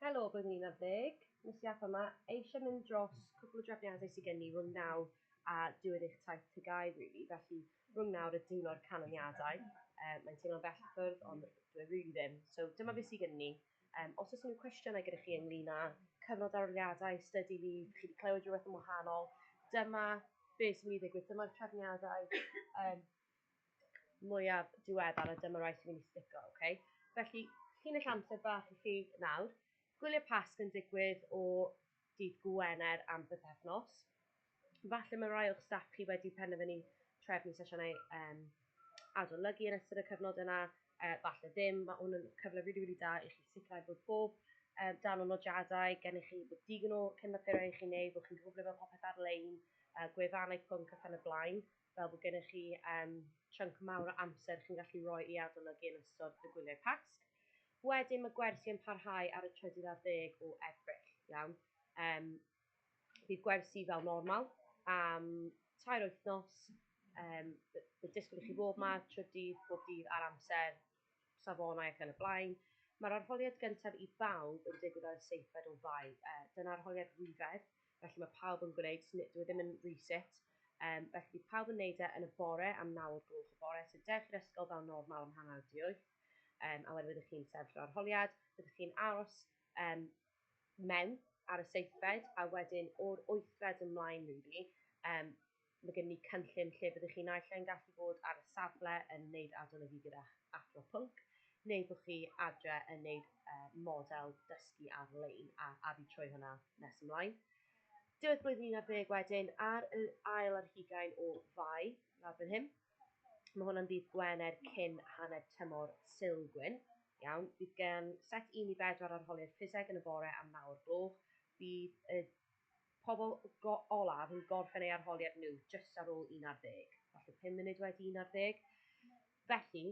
Helo, blwyddyn 11, nes i atho ma, eisiau mynd dros cwpl o drefniadau sydd gen i rhwng nawr a diwedd eich taith TGAU rili, felly rhwng nawr a diwrnod canlyniadau, um, mae'n teimlo'n bell i ffwrdd ond dwi e rili ddim, so dyma beth sydd gen ni. Um, os oes unrhyw cwestiynau gyda chi ynglyn â cyfnod aroliadau, study leave, chi wedi clywed rhywbeth yn wahanol, dyma beth sy'n mynd i ddigwydd, dyma'r trefniadau, um, mwyaf diweddar a dyma rai sy'n mynd i stico, oce? Okay? Felly, llinell amser bach i chi nawr. Gwyliau Pasg yn digwydd o dydd Gwener am bythefnos. Falle mae rai o'ch staff chi wedi penderfynu trefnu sesiynau um, adolygu yn ystod y cyfnod yna, uh, falle ddim, mae hwn yn cyfle rili, really, really da i chi sicrhau bod bob um, dan o nodiadau gennych chi, bod digon o cynfythyrau i chi wneud, bod chi'n gwybod ble mae popeth ar-lein, uh, gwefannau pwnc ac yn y blaen. fel bod gennych chi um, chunk mawr o amser chi'n gallu rhoi i adolygu yn ystod y gwyliau Pasg. Wedyn mae gwersi yn parhau ar y trydydd ar ddeg o Ebrill, iawn. Um, bydd gwersi fel normal am tair wythnos, um, bydd disgwyl i chi fod yma trydydd, bob dydd ar amser, safonau ac yn y blaen. Mae'r arholiad gyntaf i bawb yn digwydd ar y seithfed o Fai. Uh, dyna arholiad rhifedd, felly mae pawb yn gwneud, dwi e ddim yn reset, um, felly bydd pawb yn gwneud e yn y bore am naw o'r gloch y bore, so dewch i'r ysgol fel normal am hanner di wyth, um, a wedyn byddwch chi'n sefyll o'r arholiad, byddwch chi'n aros um, mewn ar y seithfed, a wedyn o'r wythfed ymlaen, really, um, Mae gennym ni cynllun lle byddwch chi naill ai'n gallu bod ar y safle yn wneud adolygu gyda'ch athro pwnc, neu bod chi adre yn wneud model dysgu ar-lein a addu trwy hwnna nes ymlaen. Diwedd blwyddyn un ar ddeg wedyn, ar yr ail ar hugain o Fai, lawr fan hyn. Mae hwnna'n ddydd Gwener cyn hanner tymor Sul Gwyn. Iawn, bydd gen set 1 i 4 arholiad ffiseg yn y bore am nawr gloch. Bydd y Pobl go- olaf yn gorffen eu arholiad nhw jyst ar ôl un ar ddeg, falle pum munud wedi un ar ddeg. Felly,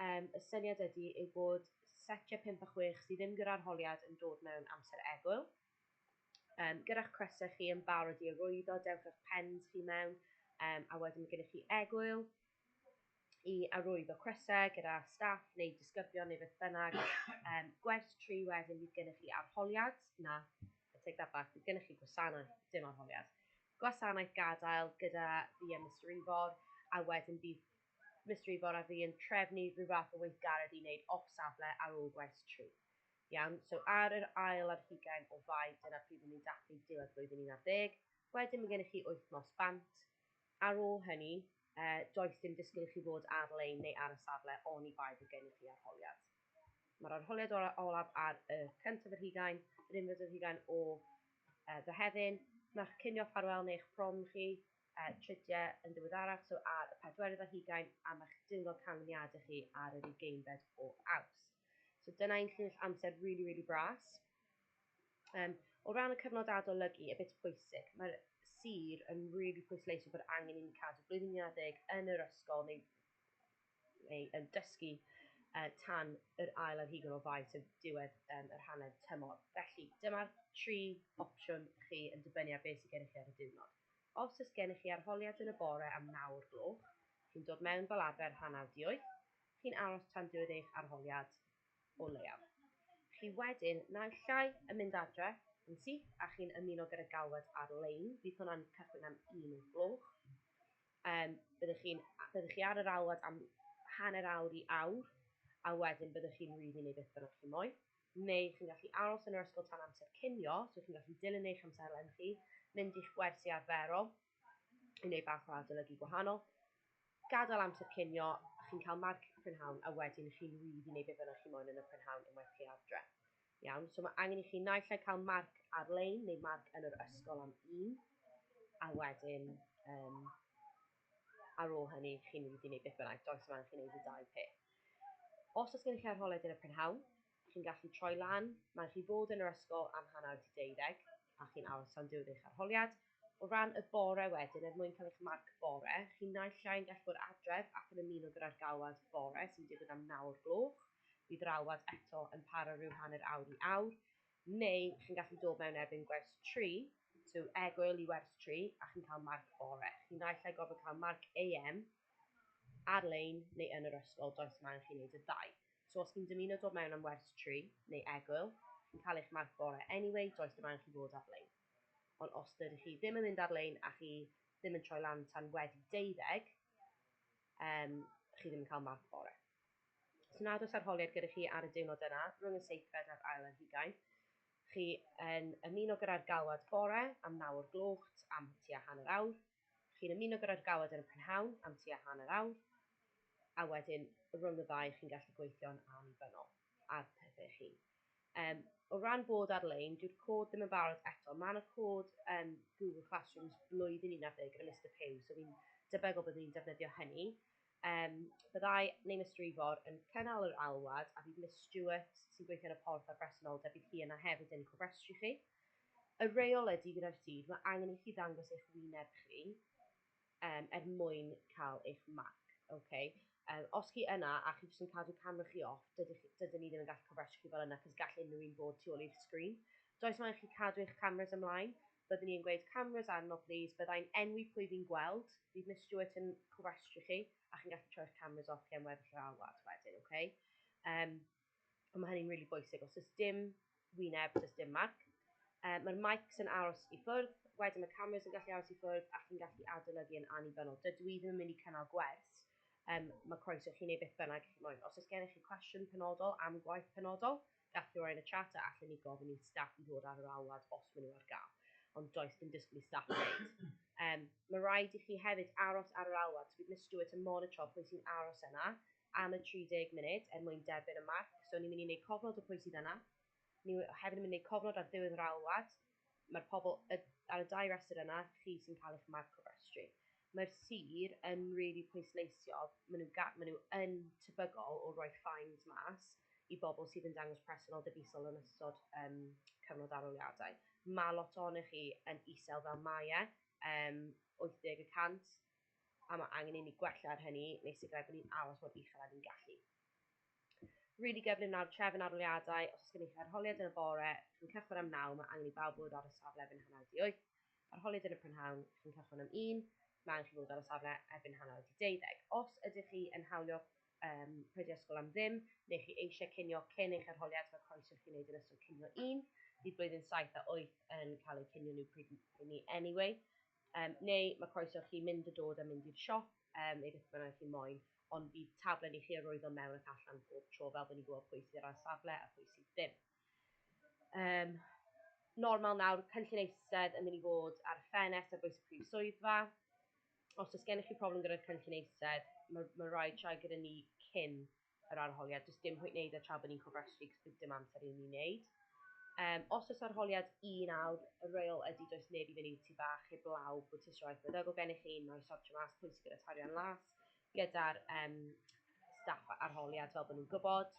um, y syniad ydy yw bod setiau 5 a 6 sydd ddim gyda arholiad yn dod mewn amser egwyl. Um, gyda'ch crysau chi yn barod i arwyddo, dewch â'ch pens chi mewn, um, a wedyn mae gennych chi egwyl, i arwyddo crysau gyda staff neu disgyblion neu beth bynnag. Um, gwerth tri wedyn bydd gennych chi arholiad, na, I take that back, bydd gennych chi gwasanaeth, dim arholiad. Gwasanaeth gadael gyda fi a Mr Ifor, a wedyn bydd Mr Ifor a fi yn trefnu rhyw fath o weithgaredd i wneud off safle ar ôl gwaith tri. Iawn, so ar yr ail ar hugain o fai, dyna pryd ni'n dathlu diwedd blwyddyn 11, wedyn mae gennych chi wythnos bant, Ar ôl hynny, does dim disgwyl i chi fod ar-lein neu ar y safle oni bai bod gennych chi arholiad. Mae'r arholiad olaf ar y cyntaf yr hugain, yr unfed yr hugain o Fehefin. Mae'ch cinio ffarwel neu'ch prom chi, tridiau yn ddiweddarach, so ar y pedwerydd ar hugain, a mae'ch diwrnod canlyniadau chi ar yr ugeinfed o Awst. So dyna un llinell amser rili, rili bras. Um, o ran y cyfnod adolygu, y bit pwysig, mae'r sir yn rili really pwysleisio bod angen i ni cadw blwyddyn 11 yn yr ysgol neu, neu yn dysgu uh, tan yr ail ar hugen o fai, sef diwedd um, yr hanner tymor. Felly, dyma'r tri opsiwn chi yn dibynnu ar beth sydd gennych chi ar y diwrnod. Os ys gennych chi arholiad yn y bore am nawr gloch, chi'n dod mewn fel arfer hanner dioeth, chi'n aros tan diwedd eich arholiad, o leiaf. Chi wedyn naill ai yn mynd adre yn syth a chi'n ymuno gyda galwad ar-lein, bydd hwnna'n cychwyn am un o'r gloch. Um, byddwch, chi, byddwch chi ar yr alwad am hanner awr i awr, a wedyn byddwch chi'n rhydd i wneud beth bynnag chi moyn. Neu chi'n gallu aros yn yr ysgol tan amser cinio, so chi'n gallu dilyn eich amserlen chi, mynd i'ch gwersi arferol, i wneud bach o adolygu gwahanol. Gadael amser cinio, chi'n cael marc prynhawn a wedyn chi'n rhydd i wneud beth bynnag chi moyn yn y prynhawn unwaith chi adre. Iawn, so mae angen i chi naill ai cael marc ar-lein neu marc yn yr ysgol am un, a wedyn um, ar ôl hynny chi'n rhydd i wneud beth bynnag, does yma angen chi wneud y dau peth. Os oes gennych chi arholiad yn y prynhawn, chi'n gallu troi lan, mae'n rhy fod yn yr ysgol am hanner di deuddeg, a chi'n aros tan diwedd eich arholiad. O ran y bore wedyn, er mwyn cael eich marc bore, chi naill llai yn gallu bod adref ac yn ymuno gyda'r galwad bore sy'n digwydd am naw o'r gloch, bydd yr alwad eto yn para rhyw hanner awr i awr, neu chi'n gallu dod mewn erbyn gwers tri, so egg early wers tri, a chi'n cael marc bore. Chi naill llai gorfod cael marc AM ar-lein neu yn yr ysgol, does mo'n angen chi wneud y ddau. So os chi'n dymuno dod mewn am wers tri, neu egwyl, chi'n cael eich marc bore anyway, does dim angen chi fod ar-lein. Ond os dydych chi ddim yn mynd ar-lein a chi ddim yn troi lan tan wedi deuddeg, um, chi ddim yn cael marc bore. Os nad oes arholiad gyda chi ar y diwrnod yna, rhwng y seithfed a'r ail ar hugain, chi yn ymuno gyda'r galwad bore am nawr gloch am tua hanner awr, Chi'n ymuno gyda'r galed yn y prynhawn am tua hanner awr, a wedyn rhwng y ddau chi'n gallu gweithio'n annibynnol ar pethau eich hun. Um, o ran bod ar-lein, dyw'r cod ddim yn barod eto. Mae yna cod um, Google Classrooms blwyddyn 11 gyda Mr Pugh, so fi'n debygol byddwn ni'n defnyddio hynny. Um, byddai neu Mr Ifor yn cynnal yr alwad a bydd Miss Stewart sy'n gweithio yn y porth ar bresenoldeb bydd hi yna hefyd yn cofrestru chi. y rheolau du gyda'r tir, mae angen i chi ddangos eich wyneb chi um, er mwyn cael eich marc. Okay? Um, os chi yna a chi jyst yn cadw camera chi off, dydych, dydyn ni ddim yn gallu cofrestru chi fel yna, cos gall unrhyw un bod tu ôl i'r sgrin. Does mae'n chi cadw eich cameras ymlaen, byddwn ni yn gweud cameras arno, please, byddai'n enwi pwy fi'n gweld, bydd Miss Stewart yn cofrestru chi, a chi'n gallu troi'r cameras off chi am weddill yr alwad wedyn, oce? Okay? Um, A mae hynny'n really bwysig. Os oes dim wyneb, does dim marc. Uh, Mae'r mics yn aros i ffwrdd, wedyn mae cameras yn gallu aros i ffwrdd a chi'n gallu adolygu yn annibynnol. Dydw i ddim yn mynd i cynnal gwers. Um, mae croeso chi neu beth bynnag chi moyn. Os oes gennych chi cwestiwn penodol am gwaith penodol, gallwch chi roi'n y chat a allan ni gofyn i staff i ddod ar yr alwad os maen nhw ar gael. Ond does dim disgwyl i staff wneud. Um, mae rhaid i chi hefyd aros ar yr alwad. So bydd Miss Stewart yn monitro pwy sy'n aros yna am y 30 munud er mwyn derbyn y marc. So ni'n mynd i wneud cofnod o pwy sydd yna. Ni hefyd yn mynd i wneud cofnod ar ddiwedd yr ail wad. Mae'r pobl ar y dau restr yna, chi sy'n cael eich marc o restru. Mae'r sir yn rili really pwysleisio, maen nhw, maen nhw yn tebygol o roi fines mas i bobl sydd yn dangos presennol debusol yn ystod um, cyfnod aroliadau. Mae lot ohonych chi yn isel fel mae e, um, 80 y cant, a mae angen i ni gwella ar hynny neu sicrhau bod ni'n aros mor uchel â ni'n gallu. Rili gyflym nawr trefn arholiadau, os oes gen i chi arholiad yn y bore, chi'n cychwyn am naw, mae angen i bawb fod ar y safle erbyn hanner di wyth. Arholiad yn y prynhawn, chi'n cychwyn am un, mae angen chi fod ar y safle erbyn hanner di deuddeg. Os ydych chi yn hawlio um, pryd ysgol am ddim, neu chi eisiau cynio cyn eich arholiad, mae croeso chi'n gwneud yn ystod cynio un. Bydd blwyddyn 7 a 8 yn cael eu cynio nhw pryd ni anyway. Um, neu mae croeso chi mynd a dod a mynd i'r siop, um, neu beth bynnag chi moyn, ond bydd taflen i chi arwyddo mewn ac allan pob tro fel bod ni'n gwybod pwy sydd ar safle a pwy sydd ddim. Um, normal nawr, cynllun eistedd yn mynd i fod ar y ffenest ar bwys y prif swyddfa. Os oes gennych chi problem gyda'r cynllun eistedd, mae, mae rhaid siarad gyda ni cyn yr arholiad, does dim pwynt wneud e tra bod ni'n cofrestru cos bydd dim amser i ni wneud. Um, os oes arholiad un awr, y reol ydy does neb i fyny ti bach heb law bod ti sioeth meddygol gennych chi, mae sortio mas pwy sy'n gyda tarian las, gyda'r um, staff arholiad fel bod nhw'n gwybod,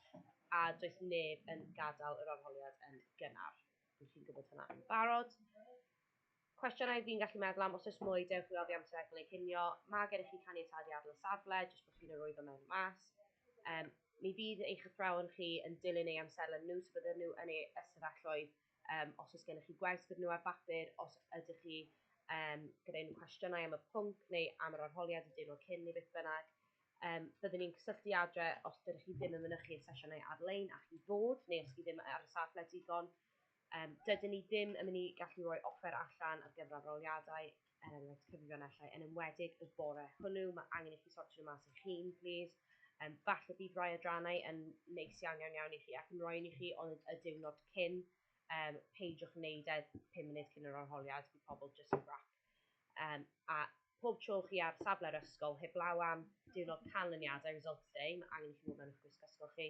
a does neb yn gadael yr arholiad yn gynnar. Dwi'n chi'n gwybod hynna yn barod. Cwestiynau fi'n gallu meddwl am, os oes mwy, dewch i oddi am seg neu cinio. Mae gennych chi caniatad i adael y safle, jyst bod chi'n arwyddo mewn a mas. Um, mi fydd eich athrawon chi yn dilyn eu amserlen nhw, so bydden nhw yn eu ystafelloedd um, os oes gennych chi gwers gyda nhw ar bapur, os ydych chi um, gyda unrhyw cwestiynau am y pwnc neu am yr arholiad y diwrnod cyn neu beth bynnag. Um, byddwn ni'n cysylltu adre os dydych chi ddim yn mynychu y sesiynau ar-lein a chi fod, neu os chi ddim ar y safle digon. Um, dydyn ni ddim yn mynd i gallu rhoi offer allan ar gyfer aroliadau, er enghraifft cyfrifionellau, yn ymwedig y bore hwnnw, mae angen i chi sortio nhw mas eich hun, please. Um, falle bydd rhai adrannau yn neis iawn iawn iawn i chi ac yn rhoi i chi ond y diwrnod cyn, um, peidiwch wneud e 5 munud cyn yr arholiad i pobl just yn rap. Um, a pob tro chi ar safle'r ysgol, heblaw am diwrnod canlyniadau, results day, mae angen i chi fod mewn eich gwisg ysgol chi,